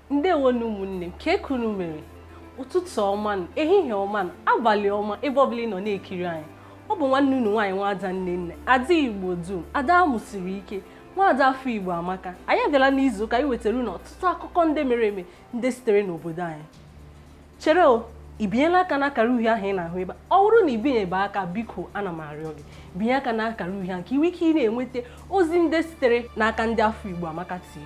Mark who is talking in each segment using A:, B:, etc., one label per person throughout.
A: ndewo nụ ụmụnne m kee ka unu mere ụtụtụ ọma ehihie ọma abalị ọma ebe ọbụla ị nọ na-ekiri anyị ọ bụ nwanne unu nwaanyị nwaada nnenne ada igbo dum ada amụsiri ike nwaada afọ igbo amaka anyị abịala n'izu ụka iwetara unu ọtụtụ akụkọ ndị mere eme ndị sitere n'obodo anyị chere o ị binyela aka n'akara uhie ahụ ị na-ahụ ebe a ọ bụrụ na i binyebe aka biko ana m arịọ gị binye aka n'akara uhie ahụ ka i nwee ike ị na-enweta ozi ndị sitere n'aka ndị afọ igbo amaka tv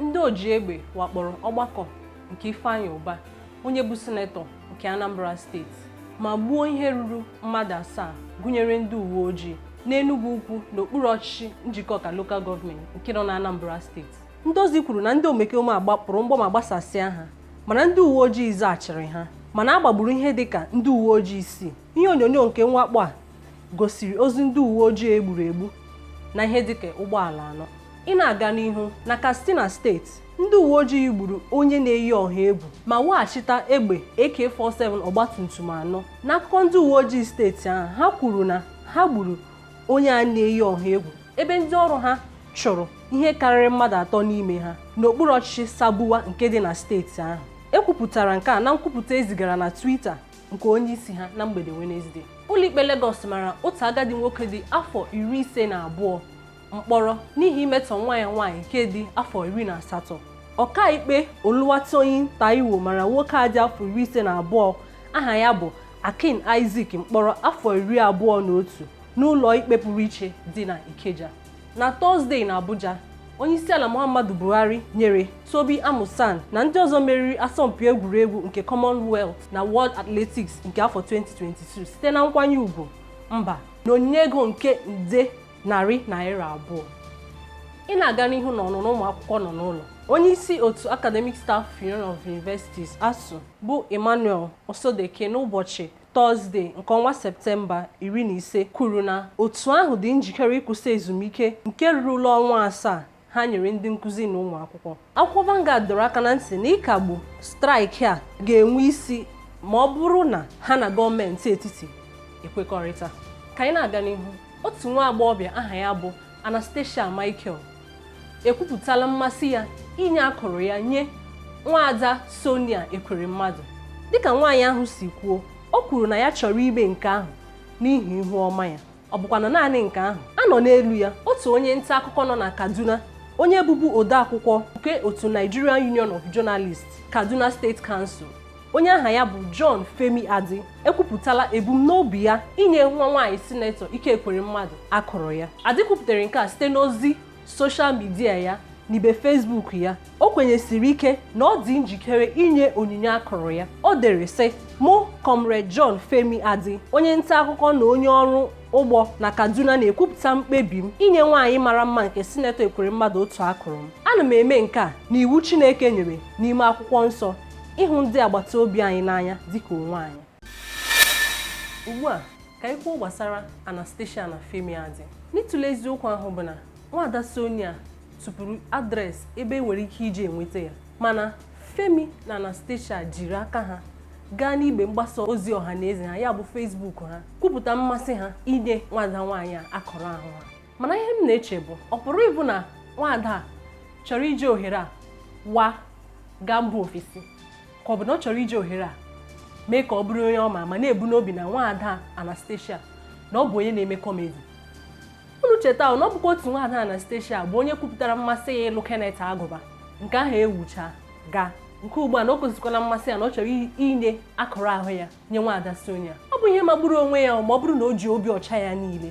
A: Ndị oji egbe wakporo ọgbakọ nke Ifeanyi Ụba, onye bụ sinetọ nke Anambra steeti ma gbuo ihe ruru mmadụ asaa gụnyere ndị uwe ojii n'Enugwu Ukwu n'okpuru ọchịchị Njikọka Local Government nke nọ n'Anambra steeti. Ndị ozi kwuru na ndị omekome a gbapụrụ mgbọ ma gbasasịa ha mana ndị uwe ojii zaghachiri ha mana a gbagburu ihe dịka ndị uwe ojii isii. ihe onyonyo nke mwakpo a gosiri ozu ndị uwe ojii e gburu egbu na ihe dịka ụgbọala anọ ị na-aga n'ihu na Katsina steeti ndị uwe ojii gburu onye na-eyi ọha egwu ma weghachita egbe AK47 ọgbatumtum anọ n'akụkọ ndị uwe ojii steeti ahụ ha kwuru na ha gburu onye a na-eyi ọha egwu ebe ndị ọrụ ha chụrụ ihe karịrị mmadụ atọ n'ime ha n'okpuru ọchịchị Sabuwa nke dị na steeti ahụ e kwupụtara nke a na nkwupụta e zigara na Twitter nke onye isi ha na mgbede Wenezdee ụlọikpe Lagos mara otu agadi nwoke dị afọ iri ise na abụọ mkpọrọ n'ihi imetọ nwa ya nwaanyị nke dị afọ iri na asatọ ọkaikpe Oluwatoyin Taiwo mara nwoke a dị afọ iri ise na abụọ aha ya bụ Akin Isaac mkpọrọ afọ iri abụọ na otu n'ụlọ ikpe pụrụ iche dị na Ikeja na tọzdee na abuja onyeisiala muhammadu buhari nyere tobi amusan na ndị ọzọ meriri asọmpi egwuregwu nke commonwealth na world athletics nke afọ 2022 site na nkwanye ugwu mba na onyinye ego nke nde narị naira abụọ ị na-aga n'ihu na ọnụnọ ụmụ akwụkwọ nọ n'ụlọ onye isi otu academic staff union of universities asuu bụ emmanuel osodeke n'ụbọchị Tọzdee nke ọnwa Septemba iri na ise kwuru na otu ahụ dị njikere ịkwụsị ezumike nke rurula ọnwa asaa ha nyere ndị nkụzi na ụmụ akwụkwọ. Akwụkwọ Vanguard dọrọ aka na ntị na ịkagbu straịkị a ga-enwe isi ma ọ bụrụ na ha na gọọmenti etiti ekwekọrịta. Ka anyị na-aga n'ihu, otu nwa agbọghọbịa aha ya bụ Anastasia Michael ekwupụtala mmasị ya inye akụrụ ya nye nwaada Sonia Ekweremmadụ dịka nwaanyị ahụ si kwuo o kwuru na ya chọrọ ime nke ahụ n'ihi ihu ọma ya ọ bụkwanụ naanị nke ahụ a nọ n'elu ya otu onye nta akụkọ nọ na Kaduna onye bụbu odeakwụkwọ nke otu Nigerian Union of Journalists Kaduna State Council onye aha ya bụ John Femi Adi ekwupụtala ebumnobi ya inye nwa nwaanyị sinetọ Ike Ekweremadu akụrụ ya Adi kwupụtara nke a site n'ozi soshal midia ya n'ibe Facebook ya o kwenyesiri ike na ọ dị njikere inye onyinye akụrụ ya o dere sị mụ Comrade John Femi Adi onye nta akụkọ na onye ọrụ ugbo na Kaduna na-ekwupụta mkpebi m inye nwaanyị mara mma nke sinetọ Ekweremadu otu akụrụ m ana m eme nke a n'iwu Chineke nyere n'ime akwụkwọ nsọ ịhụ ndị agbata obi anyị n'anya dịka onwe anyị ugbu a ka anyị kwuo gbasara Anastasia na Femi Adi n'ịtụle eziokwu ahụ bụ na nwaada Sonia tụpụrụ adreesị ebe e nwere ike iji enweta ya mana Femi na Anastasia jiri aka ha gaa n'igbe mgbasa ozi ọha na eze ha ya bụ Facebook ha kwupụta mmasị ha inye nwaada nwaanyị a akụrụ ahụ ha mana ihe m na-eche bụ ọ pụrụ ịbụ na nwaada a chọrọ iji ohere a wa gaa mba ofesi ka ọ bụ na ọ chọrọ iji ohere a mee ka ọ bụrụ onye ama ama na-ebu n'obi na nwaada Anastasia na ọ bụ onye na-eme kọmedi unu cheta na ọ bụkwa otu nwaada Anastasia bụ onye kwupụtara mmasị ya ịlụ Kenneth Aguba nke ahụ ewucha gaa nke ugbu a na o gosikwala mmasị ya na ọ chọrọ inye akụrụ ahụ ya nye nwaada Sonia ọ bụ ihe magburu onwe ya ma ọ bụrụ na o ji obi ọcha ya niile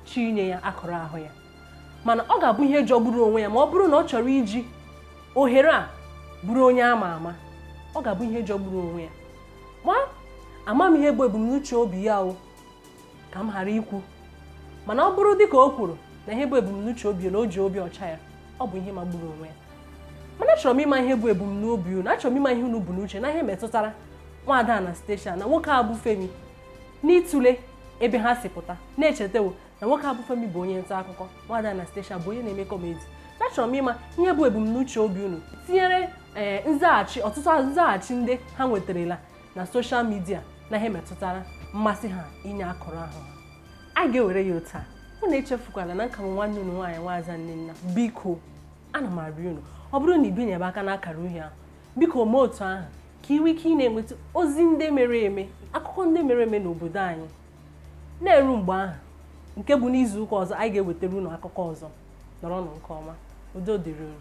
A: chọọ inye ya akụrụ ahụ ya mana ọ ga-abụ ihe jọgburu onwe ya ma ọ bụrụ na ọ chọrọ iji ohere a bụrụ onye ama ama ọ ga-abụ ihe jọgburu onwe ya ma ama m ihe bụ ebumnuche obi ya o ka m ghara ikwu mana ọ bụrụ dịka o kwuru na ihe bụ ebumnuche obi na o ji obi ọcha ya ọ bụ ihe magburu onwe ya mana achọrọ m ịma ihe bụ ebumnobi unu achọrọ m ịma ihe unu bu n'uche na ihe metụtara nwaada Anastasia na nwoke a bụ Femi n'ịtụle ebe ha si pụta na-echetawo na nwoke a bụ Femi bụ onye nta akụkọ nwaada Anastasia bụ onye na-eme kọmedi achọrọ m ịma ihe bụ ebumnuche obi unu tinyere ee eh, nzaghachi ọtụtụ nzaghachi ndị ha nwetarala na soshal midia na ihe metụtara mmasị ha inye akụrụ ahụ ha a ga-ewere ya otu a unu echefukwala na m ka bụ nwanne unu nwaanyị Nwaza Nnenna biko ana m arịọ unu ọ bụrụ na i binyebe aka n'akara uhie ahụ biko mee otu ahụ ka i nwee ike ị na-enweta ozi ndị mere eme akụkọ ndị mere eme n'obodo anyị na-eru mgbe ahụ nke bụ n'izu ụka ọzọ anyị ga-ewetara unu akụkọ ọzọ nọrọnụ nke ọma udo dịrị unu